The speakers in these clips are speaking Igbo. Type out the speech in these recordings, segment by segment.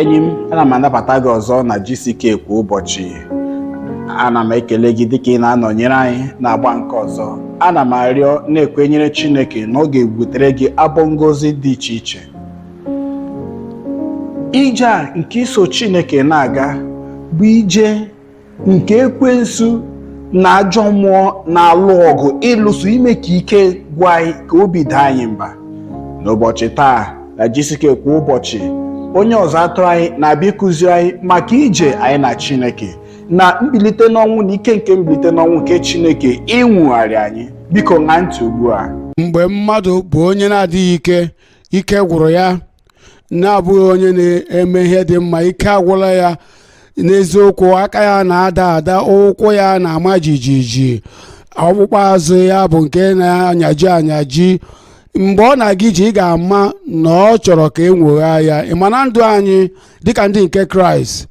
enyi m ana m anabata gị ọzọ na GCK kwa ụbọchị ana m ekele gị dịka ị na-anọnyere anyị n'agba nke ọzọ ana m arịọ na-ekwenyere Chineke na ọ ga-ebutere gị abọ ngozi dị iche iche ije a nke iso Chineke na-aga bụ ije nke ekwensu na ajọ mmụọ na-alụ ọgụ ịlụso ime ka ike gwụ anyị ka obi daa anyị mba n'ụbọchị taa na GCK kwa ụbọchị onye ọzụ atụrụ anyị na-abịa ịkụzi anyị maka ije anyị na chineke na mbilite n'ọnwụ na ike nke mbilite n'ọnwụ nke chineke inwogharị anyị biko ṅaa ntị ugbu a mgbe mmadụ bụ onye na-adịghị ike ike gwụrụ ya na-abụghị onye na-eme ihe dị mma ike agwụla ya n'eziokwu aka ya na-ada ada ụkwụ ya na-ama jijiji ọkpụkpụ azụ ya bụ nke na-anyaji anyaji mgbe ọ na-aga ije ị ga-ama na ọ chọrọ ka e nwogha ya ị ma na ndụ anyị dịka ndị nke kraịst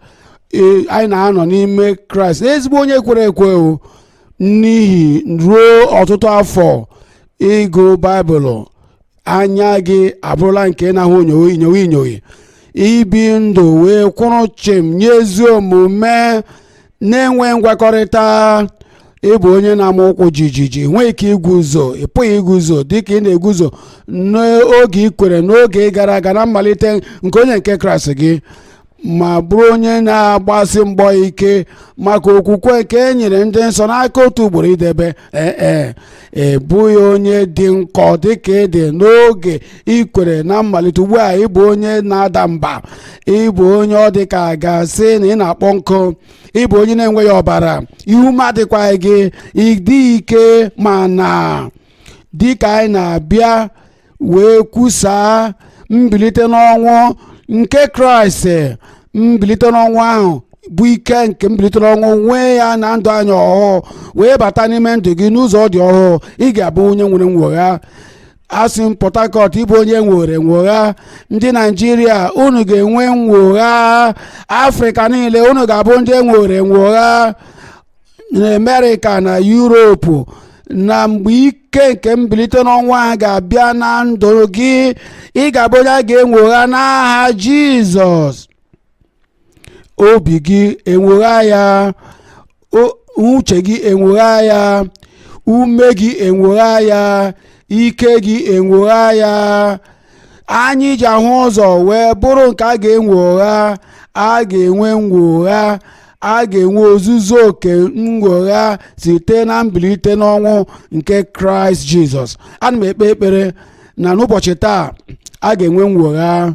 ee, anyị na-anọ n'ime kraịst ezigbo onye kwere ekwe o n'ihi ruo ọtụtụ afọ ịgụ baịbụlụ anya gị abụrụla nke na-ahụ inyoghi inyoghi ibi ndụ wee kwụrụ chịm nye ezi omume na-enwe ngwakọrịta ị bụ onye na-ama ụkwụ jijiji ị nweghị ike iguzo ị pụghị iguzo dịka ị na-eguzo n'oge ị kwere n'oge gara aga na mmalite nke onye nke kraịst gị ma bụrụ onye na-agbasi mgbọ ike maka okwukwe nke e nyere ndị nsọ n'aka otu ugboro idebe ee ee ị bụghị onye dị nkọ dịka ị dị n'oge i kwere na mmalite ugbu a ị bụ onye na-ada mba ị bụ onye ọ dị ka a ga-asị na ị na-akpọ nkụ ị bụ onye na-enweghị ọbara ihu ma dịkwaghị gị ịdị ike mana dịka anyị na-abịa wee kwusaa mbilite n'ọnwụ nke kraịst mbilite n'ọnwụ ahụ bụ ike nke mbilite n'ọnwụ nwee ya na ndụ anyị ọhụụ wee bata n'ime ndụ gị n'ụzọ dị ọhụụ ị ga-abụ onye nwere nwogha asị m port harcourt ị bụ onye nwere nwogha ndị naijiria unu ga-enwe nwogha afrịka niile unu ga-abụ ndị nwere nwogha na amerịka na yuropu na mgbe ike nke mbilite n'ọnwụ a ga-abịa na ndụ gị ị ga-abụ onye a ga-enwogha n'aha jizọs obi gị enwogha ya o- uche gị enwogha ya ume gị enwogha ya ike gị enwogha ya anyị ji ahụ ụzọ wee bụrụ nke a ga-enwogha a ga-enwe nnwogha a ga-enwe ozuzu oke nnwogha site na mbilite n'ọnwụ nke kraịst jizọs ana m ekpe ekpere na n'ụbọchị taa a ga-enwe nnwogha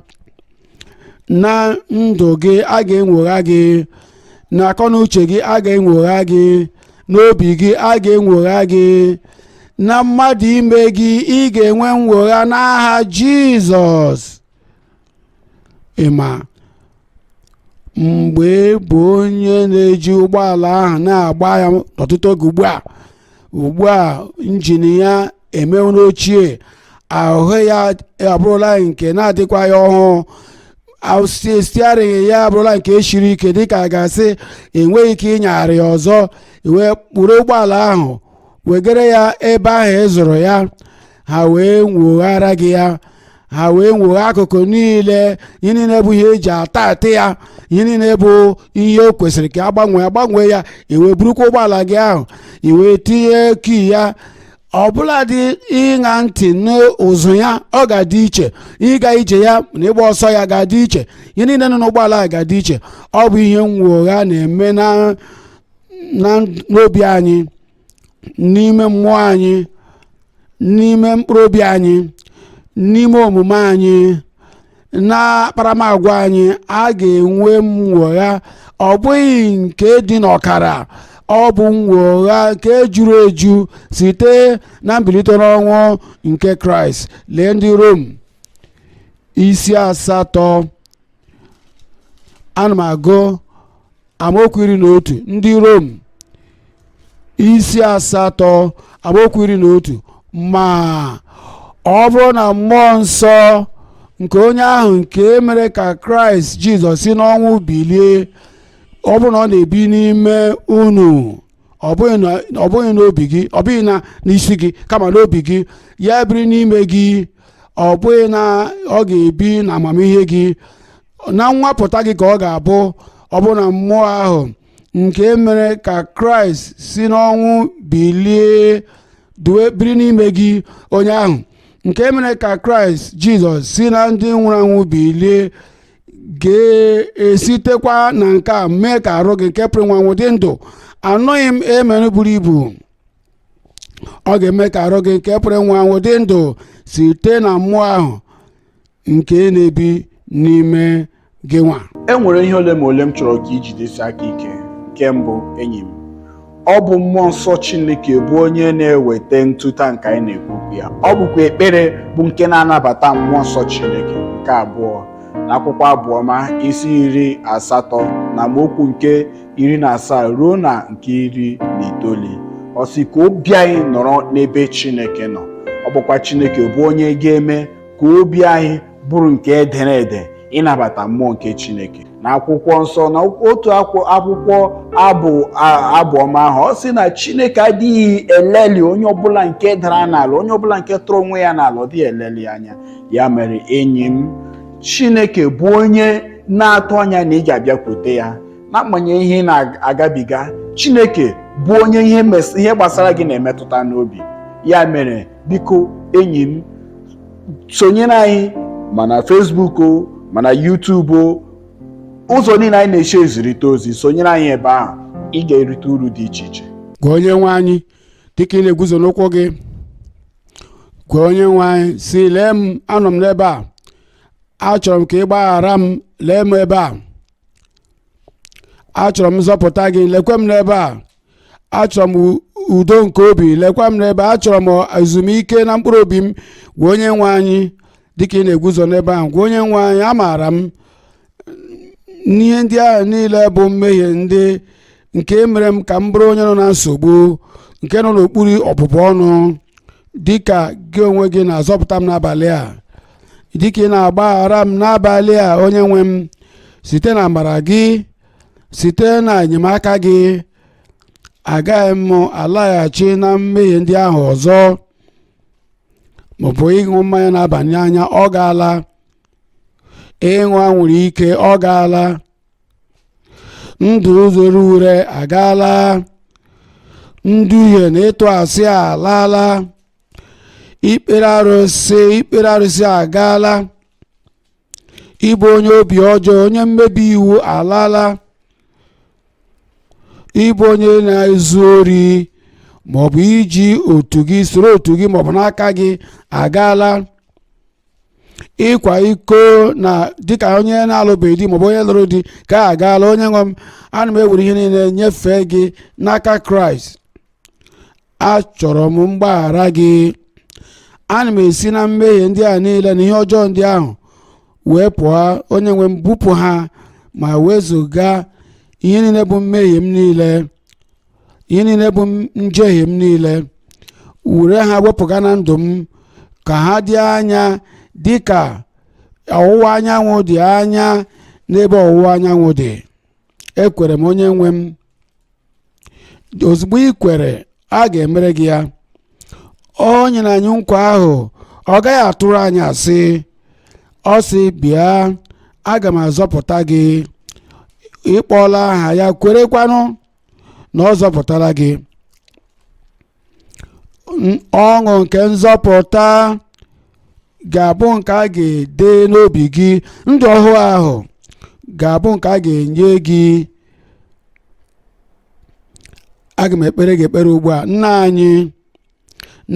na ndụ gị a ga-enwogha gị na akọnuche gị a ga-enwogha gị n'obi gị a ga-enwogha gị na mmadụ ime gị ị ga-enwe nnwogha n'aha jizọs ị ma mgbe ị bụ onye na-eji ụgbọala ahụ na-agba ya ọtụtụ oge ugbu a ugbu a injin ya emewo ochie ahụ ya abụrụla nke na-adịkwaghị ọhụụ steering ya abụrụla nke siri ike dịka a ga-asị enweghị ike ịnyagharị ya ọzọ wee kpụrụ ụgbọala ahụ wegara ya ebe ahụ ị zụrụ ya ha wee nwoghara gị ya ha wee nwogha akụkụ niile ihe niile bụ ihe eji ata ata ya ihe niile bụ ihe o kwesịrị ka a gbanwee a gbanwee ya i wee burukwa ụgbọala gị ahụ i wee tinye key ya ọbụladị ịṅa ntị n'ụzụ ya ọ ga-adị iche ịga ije ya na ịgba ọsọ ya ga-adị iche ihe niile nọ n'ụgbọala a ga-adị iche ọ bụ ihe nnwogha na-eme na n'obi anyị n'ime mmụọ anyị n'ime mkpụrụ obi anyị n'ime omume anyị na akparamagwa anyị a ga-enwe nnwogha ọ bụghị nke dị n'ọkara ọ bụ nnwogha nke juru eju site na mbilite n'ọnwụ nke kraịst lee ndị rom isi asatọ ana m agụ amaokwu iri na otu ndị rom isi asatọ amaokwu iri na otu ma ọ bụrụ na mmụọ nsọ nke onye ahụ nke mere ka kraịst jizọs si n'ọnwụ bilie ọ bụrụ na ọ na-ebi n'ime unu ọ bụghị na ọ bụghị n'obi gị ọ bụghị na n'isi gị kama n'obi gị ya biri n'ime gị ọ bụghị na ọ ga-ebi na amamihe gị na nnwapụta gị ka ọ ga-abụ ọ bụ na mmụọ ahụ nke mere ka kraịst si n'ọnwụ bilie biri n'ime gị onye ahụ nke mere ka kraịst jizọs si na ndị nwụrụ anwụ bilie ga-esitekwa na nke a mee ka arụ gị nke pụrụ ịnwụ anwụ dị ndụ anụghị m amen buru ibu ọ ga-eme ka arụ gị nke pụrụ ịnwụ anwụ dị ndụ site na mmụọ ahụ nke na-ebi n'ime gị nwa e nwere ihe ole ma ole m chọrọ ka i jidesi aka ike nke mbụ enyi m ọ bụ mmụọ nsọ chineke bụ onye na-eweta ntụta nke anyị na-ekwu okwu ya ọ bụkwa ekpere bụ nke na-anabata mmụọ nsọ chineke nke abụọ na akwụkwọ abụọma isi iri asatọ na amaokwu nke iri na asaa ruo na nke iri na itoolu ọ sị ka obi anyị nọrọ n'ebe chineke nọ ọ bụkwa chineke bụ onye ga-eme ka obi anyị bụrụ nke edere ede ịnabata mmụọ nke Chineke na akwụkwọ nsọ na otu akwụkwọ abụ ọma ahụ ọ sị na Chineke adịghị eleli onye ọbụla nke dara n'ala onye ọbụla nke tụrụ onwe ya n'ala ọ dịghị eleli anya ya mere enyi m Chineke bụ onye na-atụ anya na ị ga-abịakwute ya n'agbanyeghị ihe ị na-agabiga Chineke bụ onye ihe gbasara gị na-emetụta n'obi ya mere biko enyi m sonyere anyị ma na Facebook o ma na YouTube o ụzọ niile anyị na-esi ezirịta ozi sonyere anyị ebe ahụ ị ga-erite uru dị iche iche gwa onye nwe anyị dịka ị na-eguzo n'ụkwụ gị gwa onye nwe anyị sị lee m anọ m n'ebe a achọrọ m ka ị gbaghara m lee m ebe a achọrọ m nzọpụta gị lekwe m n'ebe a achọrọ m u- udo nke obi lekwa m n'ebe a achọrọ m ezumike na mkpụrụ obi m gwa onye nwe anyị dịka ị na-eguzo n'ebe ahụ gwa onye nwe anyị amaara m na ihe ndị ahụ niile bụ mmehie ndị nke mere m ka m bụrụ onye nọ na nsogbu nke nọ n'okpuru ọbụbụ ọnụ dịka gị onwe gị na-azọpụta m n'abalị a dịka ị na-agbaghara m n'abalị a onye nwe m site na amara gị site na enyemaka gị agaghị m alaghachi na mmehie ndị ahụ ọzọ maọbụ ịṅụ mmanya na-aba n'anya ọ gaala ịṅụ anwụrụ ike ọ gaala ndụ rere ure agaala nduhie na ịtụ asị alaala ikpere ikpere arụsị agaala ịbụ onye obi ọjọọ onye mmebi iwu alaala ịbụ onye na-ezu ori maọbụ iji otu gị soro otu gị maọbụ n'aka gị agaala ịkwa iko na dịka onye na-alụbeghị di maọbụ onye lụrụ di ka agaala onye nwe m ana m ewere ihe niile nyefee gị n'aka kraịst achọrọ m mgbaghara gị ana m esi na mmehie ndị ahụ niile na ihe ọjọọ ndị ahụ wee pụọ onye nwe m bupụ ha ma wezụga ihe niile bụ mmehie m niile ihe niile bụ njehie m niile were ha wepụga na ndụ m ka ha dị anya dị ka ọwụwa anyanwụ dị anya n'ebe ọwụwa anyanwụ dị ekwere m onye nwe m ozugbo ị kwere a ga-emere gị ya o nyere anyị nkwa ahụ ọ gaghị atụrụ anyị asị ọ sị bịa aga m azọpụta gị ị kpọọla aha ya kwerekwanụ na ọ zọpụtala gị ọṅụ nke nzọpụta ga-abụ nke a ga-ede n'obi gị ndụ ọhụụ ahụ ga-abụ nke a ga-enye gị aga m ekpere gị ekpere ugbu a nna anyị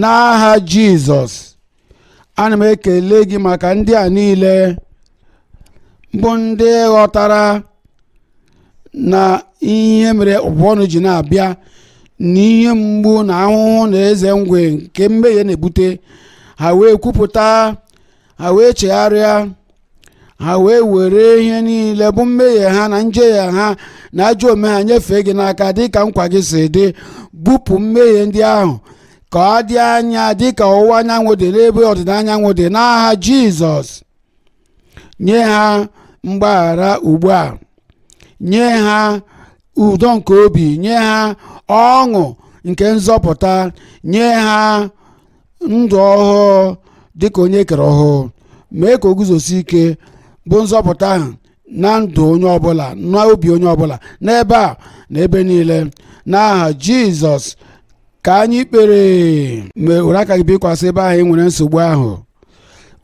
n'aha jizọs ana m ekele gị maka ndị a niile bụ ndị ghọtara na ihe mere ọbụbụ ọnụ ji na-abịa na ihe mgbu na ahụhụ na eze ngwe nke mmehie na-ebute ha wee kwupụta ha wee chegharịa ha wee were ihe niile bụ mmehie ha na njehie ha na ajọ omume ha nyefee gị n'aka dị ka nkwa gị si dị bupụ mmehie ndị ahụ ka ọ dị anya dị ka ọwụwa anyanwụ dị n'ebe ọdịda anyanwụ dị n'aha jizọs nye ha mgbaghara ugbu a nye ha udo nke obi nye ha ọṅụ nke nzọpụta nye ha ndụ ọhụụ dị ka onye e kere ọhụụ mee ka o guzosi ike bụ nzọpụta ahụ na ndụ onye ọbụla na obi onye ọbụla n'ebe a na ebe niile n'aha jizọs ka anyị kpere amen were aka gị bikwasị ebe ahụ ị nwere nsogbu ahụ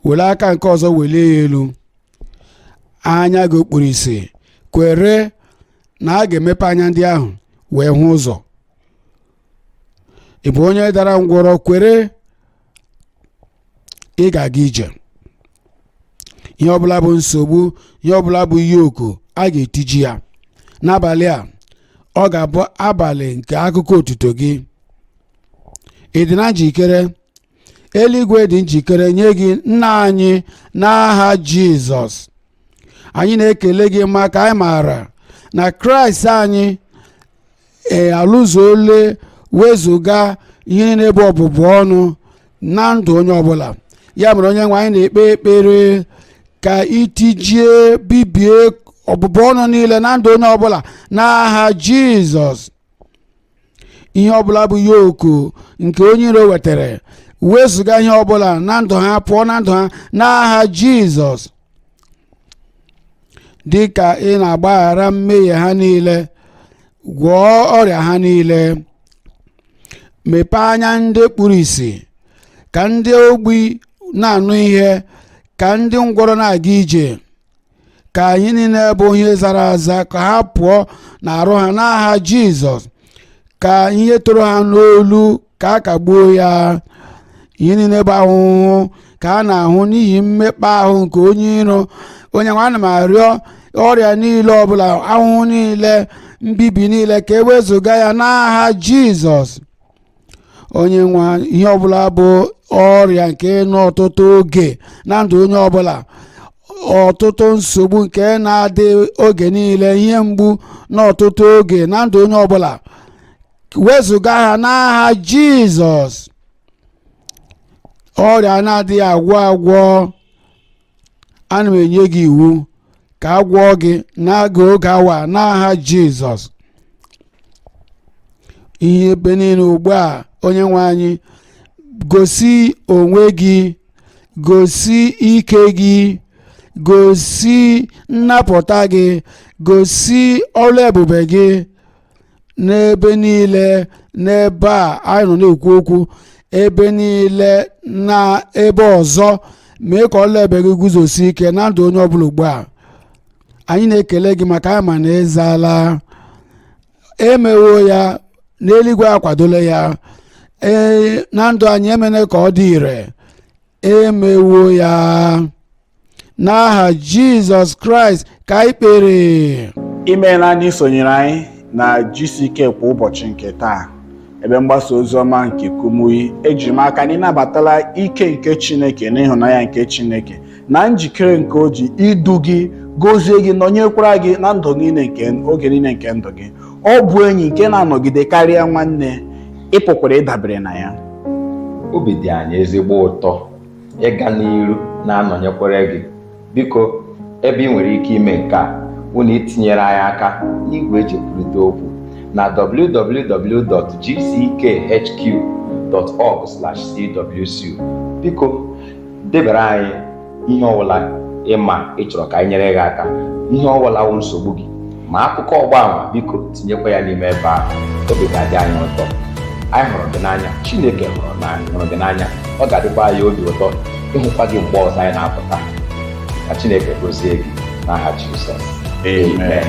were aka nke ọzọ welie ya elu anya gị o kpuru ìsì kwere na a ga-emepe anya ndị ahụ wee hụ ụzọ ị bụ onye dara ngwọrọ kwere ị ga-aga ije ihe ọbụla bụ nsogbu ihe ọbụla bụ yoku a ga-etiji ya n'abalị a ọ ga-abụ abalị nke akụkọ otuto gị ị dị na njikere eluigwe dị njikere nye gị nna anyị n'aha jizọs anyị na-ekele gị maka anyị maara na kraịst anyị alụzuole wezụga ihe niile bụ ọbụbụ ọnụ na ndụ onye ọbụla ya mere onye nwe anyị na-ekpe ekpere ka i tijie bibie ọbụbụ ọnụ niile na ndụ onye ọbụla n'aha jizọs ihe ọbụla bụ yoku nke onye iro wetara wezụga ihe ọbụla na ndụ ha pụọ na ndụ ha n'aha jizọs dị ka ị na-agbaghara mmehie ha niile gwọọ ọrịa ha niile mepee anya ndị kpuru ìsì ka ndị ogbi na-anụ ihe ka ndị ngwọrọ na-aga ije ka ihe niile bụ ihe zara aza ka ha pụọ n'arụ ha n'aha jizọs ka ihe toro ha n'olu ka a kagbuo ya ihe niile bụ ahụhụ ka ha na-ahụ n'ihi mmekpa ahụ nke onye iro onye nwe ana m arịọ ọrịa niile ọbụla ahụhụ niile mbibi niile ka e wezụga ya n'aha jizọs onye nwe anyị ihe ọbụla bụ ọrịa nke nọ ọtụtụ oge na ndụ onye ọbụla ọtụtụ nsogbu nke na-adị oge niile ihe mgbu nọ ọtụtụ oge na ndụ onye ọbụla wezụga ha n'aha jizọs ọrịa na-adịghị agwọ agwọ ana m enye gị iwu ka a gwọọ gị n'oge oge awa n'aha jizọs ihe ebe niile ugbu a onye nwe anyị gosi onwe gị gosi ike gị gosi nnapụta gị gosi ọrụ ebube gị n'ebe niile n'ebe a anyị nọ na-ekwu okwu ebe niile na ebe ọzọ mee ka ọrụ ebube gị guzosi ike na ndụ onye ọbụla ugbu a anyị na-ekele gị maka anyị ma na ịzala emewo ya na eluigwe akwadola ya ee na ndụ anyị emene ka ọ dị ire emewo ya n'aha jizọs kraịst ka anyị kpere imeela na isonyere anyị na GCK kwa ụbọchị nke taa ebe mgbasa ozi ọma nke kumuyi eji m aka na ịnabatala ike nke chineke na ịhụnanya nke chineke na njikere nke o ji idu gị gozie gị nọnyekwara gị na ndụ niile nke oge niile nke ndụ gị ọ bụ enyi nke na-anọgide karịa nwanne ị pụkwara ịdabere na ya obi dị anyị ezigbo ụtọ ịga n'iru na-anọnyekwara gị biko ebe ị nwere ike ime nke a wụ na itinyere anyị aka n'igwe eji ekwurịta okwu na www.gckhq.org/cwc biko debara anyị ihe ọbụla ịma ị chọrọ ka anyị nyere gị aka ihe ọbụla wụ nsogbu gị ma akụkọ ọgba ama biko tinyekwa ya n'ime ebe ahụ obi ga-adị anyị ụtọ anyị hụrụ gị n'anya chineke hụrụ gị n'anya ọ ga-adịkwa anyị obi ụtọ ịhụkwa gị mgbe ọzọ anyị na-apụta ka chineke gozie gị n'aha jizọs amen